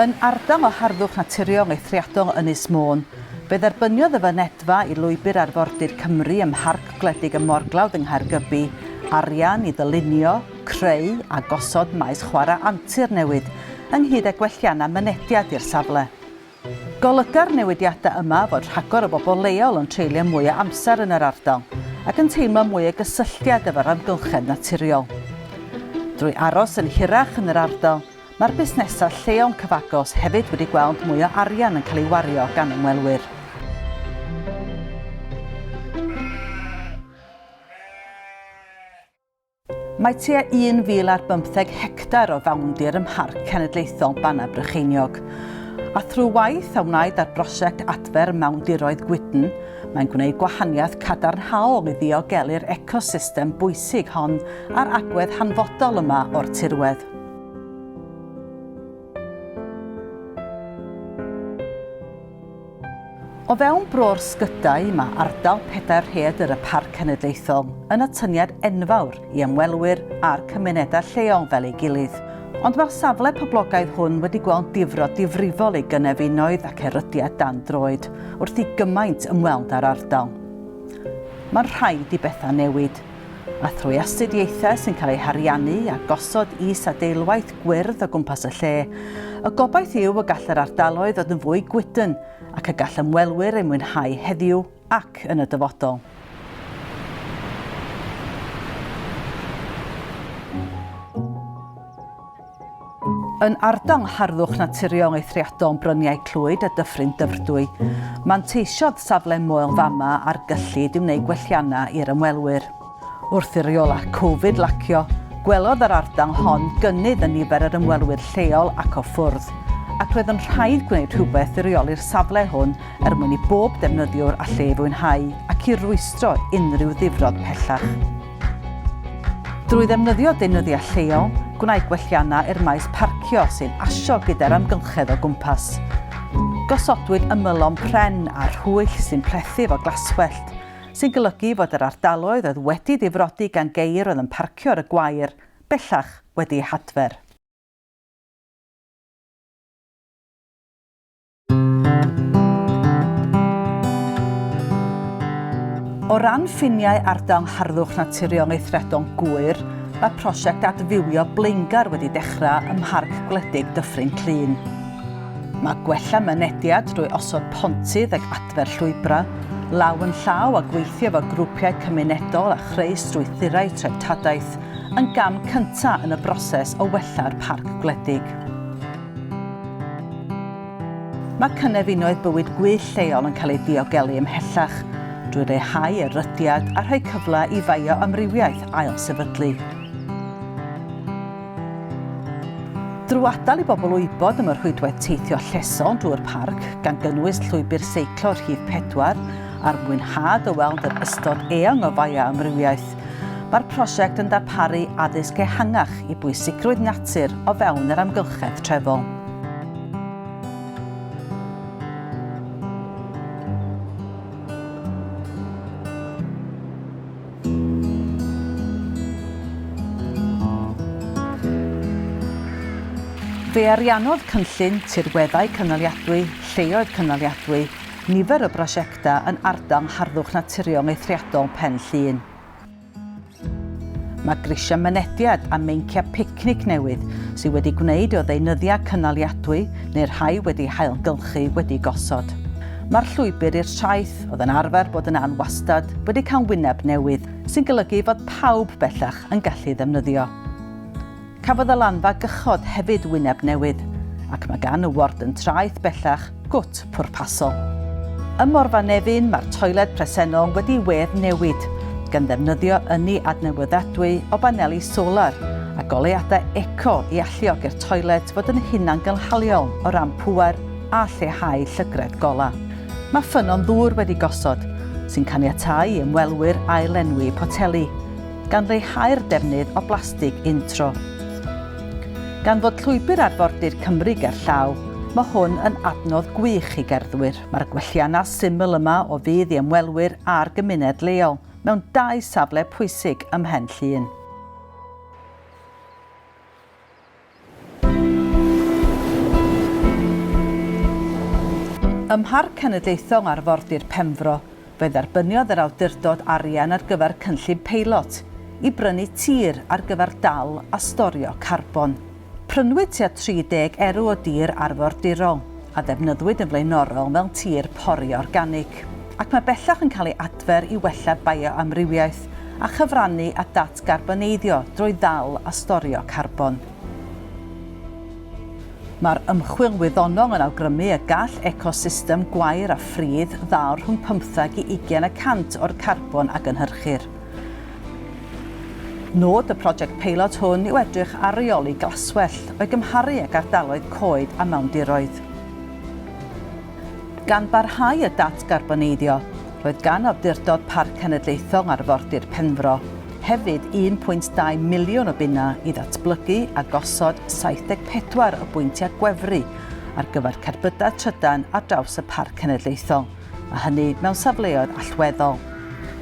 Yn ardal o harddwch naturiol eithriadol Ynys Môn, fe dderbyniodd y fynedfa i Lwybr Arfordir Cymru ym Mharc Gwledig y Morglawdd yng Nghaergybi arian i ddylunio, creu a gosod maes chwarae antur newydd, ynghyd â gwelliannau mynediad i'r safle. Golyga'r newidiadau yma fod rhagor o bobl leol yn treulio mwy o amser yn yr ardal ac yn teimlo mwy o gysylltiad efo'r amgylchedd naturiol. Drwy aros yn hirach yn yr ardal, Mae'r busnesau lleol cyfagos hefyd wedi gweld mwy o arian yn cael ei wario gan ymwelwyr. Mae tua 1,000 ar bymtheg hectar o fawndir ym Mharc Cenedlaethol Bannau Brycheiniog. A thrwy waith a wnaed ar brosiect adfer mawndiroedd gwydn, mae'n gwneud gwahaniaeth cadarnhaol i ddiogelu'r ecosystem bwysig hon a'r agwedd hanfodol yma o'r tirwedd. O fewn bro'r sgydau, mae ardal pedair rhaeadr y Parc Cenedlaethol yn atyniad enfawr i ymwelwyr a'r cymunedau lleol fel ei gilydd. Ond mae'r safle poblogaidd hwn wedi gweld difrod difrifol ei gynefinoedd ac erydiad dan droed wrth i gymaint ymweld â'r ardal. Mae'n rhaid i bethau newid. a thrwy astudiaethau sy'n cael eu hariannu a gosod is-adeilwaith gwyrdd o gwmpas y lle, y gobaith yw y gall yr ardaloedd fod yn fwy gwydn ac y gall ymwelwyr eu mwynhau heddiw ac yn y dyfodol. Yn ardal harddwch naturiol eithriadol Bryniau Clwyd a Dyffryn Dyfrdwy, manteisiodd safle Moel Fama ar gyllid i wneud gwelliannau i'r ymwelwyr. Wrth i reolau Covid lacio, gwelodd yr ardal hon gynnydd yn nifer yr ymwelwyr lleol ac o ffwrdd, ac roedd yn rhaid gwneud rhywbeth i reoli'r safle hwn er mwyn i bob defnyddiwr allu ei fwynhau ac i rwystro unrhyw ddifrod pellach. Drwy ddefnyddio deunyddiau lleol, gwnaed gwelliannau i'r maes parcio sy'n asio gyda'r amgylchedd o gwmpas. Gosodwyd ymylon pren a rhwyll sy'n plethu efo glaswellt, sy'n golygu fod yr ardaloedd oedd wedi difrodi gan geir oedd yn parcio ar y gwair bellach wedi eu hadfer. O ran ffiniau Ardal Harddwch Naturiol Meithredol Gŵyr, mae prosiect adfywio blaengar wedi dechrau ym Mharc Gwledig Dyffryn Clyn. Mae gwella mynediad drwy osod pontydd ag adfer llwybrau, law yn llaw a gweithio efo grwpiau cymunedol a chreu strwythurau treftadaeth yn gam cyntaf yn y broses o wella'r parc gwledig. Mae cynefinoedd bywyd gwyllt lleol yn cael eu diogelu ymhellach drwy leihau erydiad a rhoi cyfle i fioamrywiaeth ailsefydlu. Drwy adael i bobl wybod am y rhwydwaith teithio llesol drwy'r parc, gan gynnwys llwybr seiclo rhif pedwar, a'r mwynhad o weld yr ystod eang o fioamrywiaeth, Mae'r prosiect yn darparu addysg ehangach i bwysigrwydd natur o fewn yr amgylchedd trefol. Fe ariannodd Cynllun Tirweddau Cynaliadwy, Lleoedd Cynaliadwy, nifer o brosiectau Llwythda yn ardal yng Ngharddwch Naturiol Eithriadol Pen Llŷn. Mae grisiau mynediad a meinciau picnic newydd sydd wedi gwneud o ddeunyddiau cynaliadwy neu rhai wedi hailgylchu wedi gosod. Mae'r llwybr i'r traeth, oedd yn arfer bod yn an wastad, wedi cael wyneb newydd, sy'n golygu fod pawb bellach yn gallu ddefnyddio. Cafodd y lanfa gychod hefyd wyneb newydd, ac mae gan y ward yn traeth bellach gwt pwrpasol. Ym Morfa Nefyn mae'r toiled presennol wedi wedd newid, gan ddefnyddio ynni adnewyddadwy o baneli solar a goleuadau eco i alluog i'r toiled fod yn hunangynhaliol o ran pŵer a lleihau llygredd golau. Mae ffynnon ddŵr wedi gosod, sy'n caniatáu i ymwelwyr ail-lenwi poteli. gan leihau'r defnydd o blastig untro. Gan fod Llwybr Arfordir Cymru gerllaw, mae hwn yn adnodd gwych i gerddwyr. Mae'r gwelliannau syml yma o fudd i ymwelwyr a'r gymuned leol mewn dau safle pwysig ym Mhen Llŷn. Ym Mharc Cenedlaethol Arfordir Penfro, fe dderbyniodd yr awdurdod arian ar gyfer cynllun peilot i brynu tir ar gyfer dal a storio carbon. Prynwyd tua 30 erw o dir arfordirol. a ddefnyddwyd yn flaenorol fel tir pori organig, ac mae bellach yn cael ei adfer i wella bioamrywiaeth a chyfrannu at ddatgarboneiddio drwy ddal a storio carbon. Mae'r ymchwil wyddonol yn awgrymu y gall ecosystem gwair a phridd ddal rhwng pymtheg i ugain y cant o'r carbon a gynhyrchir. Nod y project peilot hwn yw edrych ar reoli glaswellt o'i gymharu ag ardaloedd coed a mawndiroedd. Gan barhau y datgarboneiddio, roedd gan Awdurdod Parc Cenedlaethol Arfordir Penfro hefyd 1.2 miliwn o bunnau i ddatblygu a gosod 74 o bwyntiau gwefru ar gyfer cerbydau trydan ar draws y Parc Cenedlaethol, a hynny mewn safleoedd allweddol,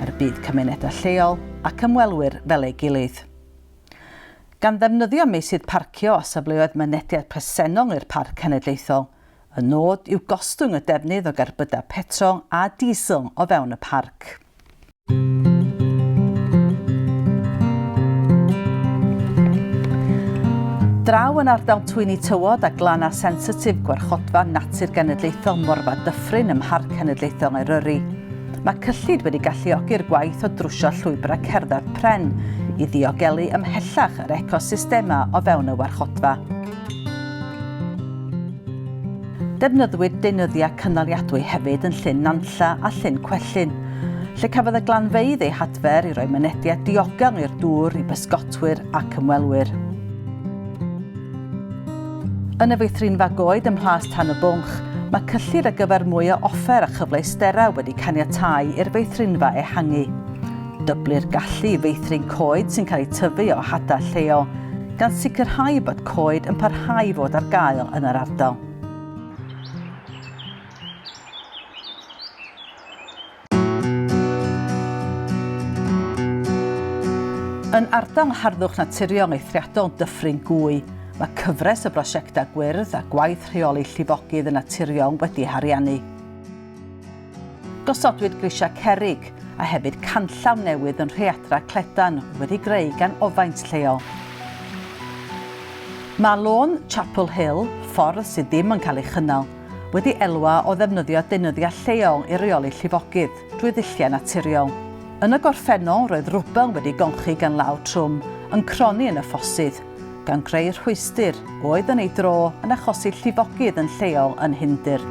er budd cymunedau lleol ac ymwelwyr fel ei gilydd. Gan ddefnyddio meysydd parcio a safleoedd mynediad presennol i'r Parc Cenedlaethol, y nod yw gostwng y defnydd o gerbydau petrol a diesel o fewn y parc. Draw yn ardal Twyni Tywod a Glanna Sensitif Gwarchodfa Natur Genedlaethol Morfa Dyffryn ym Mharc Cenedlaethol Eryri. Mae cyllid wedi galluogi'r gwaith o drwsio llwybrau cerdded pren i ddiogelu ymhellach yr ecosystemau o fewn y warchodfa. Defnyddiwyd deunyddiau cynaliadwy hefyd yn Llyn Nantlla a Llyn Cwellyn, lle cafodd y glanfeydd eu hadfer i roi mynediad diogel i'r dŵr i bysgotwyr ac ymwelwyr. Yn y feithrinfa goed ym Mhlas Tan y Bwnc, mae cyllid ar gyfer mwy o offer a chyfleusterau wedi caniatáu i'r feithrinfa ehangu. Dyblu'r gallu i feithrin coed sy'n cael eu tyfu o hadau lleol, gan sicrhau bod coed yn parhau i fod ar gael yn yr ardal. Yn ardal harddwch naturiol eithriadol Dyffryn Gwy, mae cyfres o brosiectau gwyrdd a gwaith rheoli llifogydd yn naturiol wedi hariannu. Gosodwyd grisiau cerrig a hefyd canllaw newydd yn Rheadra Cledan wedi greu gan ofaint lleol. Mae lôn Chapel Hill, ffordd sydd ddim yn cael ei chynnal, wedi elwa o ddefnyddio deunyddiau lleol i reoli llifogydd drwy ddulliau naturiol. Yn y gorffennol roedd rwbel wedi gonchu gan law trwm yn cronni yn y ffosydd. gan greu rhwystr oedd yn ei dro yn achosi llifogydd yn lleol yn Nhyndir.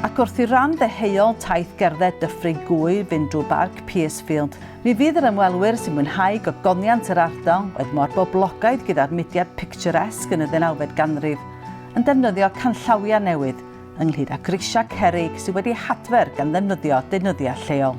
Ac wrth i ran ddeheuol taith gerdded Dyffryn Gwy fynd drwy Barc Piercefield, mi fydd yr ymwelwyr sy'n mwynhau gogoniant yr ardal oedd mor boblogaidd gyda'r mudiad picturesque yn y ddeunawfed ganrif, yn defnyddio canllawiau newydd, ynghyd â grisiau cerrig sydd wedi hadfer gan ddefnyddio deunyddiau lleol.